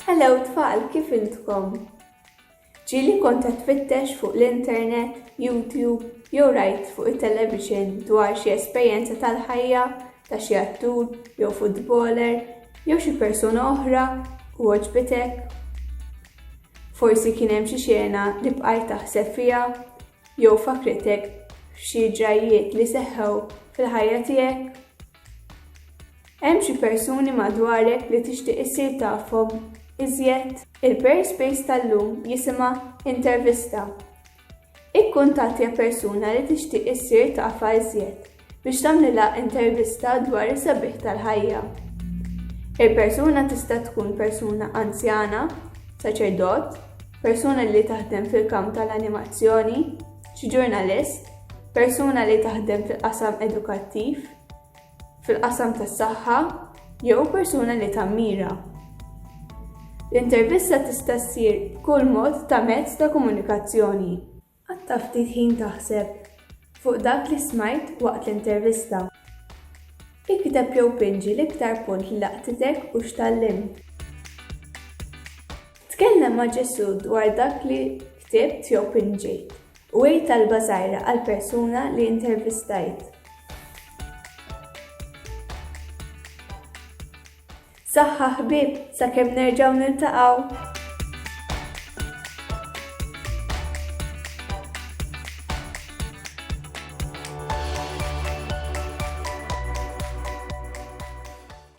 Hello tfal, kif intkom? Ġieli kont qed tfittex fuq l-internet, YouTube jew rajt fuq it-television dwar xi esperjenza tal-ħajja ta' xi attur jew futboler jew xi persuna oħra u għoġbitek? Forsi kien hemm xi xena li bqajt taħseb fiha jew fakritek f'xi ġrajjiet li seħħew fil-ħajja tiegħek? Hemm xi persuni madwarek li tixtieq issir tafhom iżjed? Il-Perispace tal-lum jisimha Intervista. Ikkuntattja persuna li tixtieq issir tafha iżjed biex tagħmlilha intervista dwar is-sabiħ tal-ħajja. Il-persuna tista' tkun persuna anzjana, saċerdot, persuna li taħdem fil-kamp tal-animazzjoni, xi ġurnalist, Persuna li taħdem fil-qasam edukattiv, fil-qasam tas-saħħa jew persuna li tammira. L-intervista tista' ssir b'kull mod ta' mezz ta' komunikazzjoni. Qatta' ftit ħin taħseb fuq dak li smajt waqt l-intervista. Ikteb jew pinġi l-iktar punt li laqtitek u x'tgħallimt. Tkellem ma' Ġesù dwar dak li ktibt jew pinġejt. U għid talba żgħira għall-persuna li intervistajt. Saħħa ħbieb sakemm nerġgħu niltaqgħu!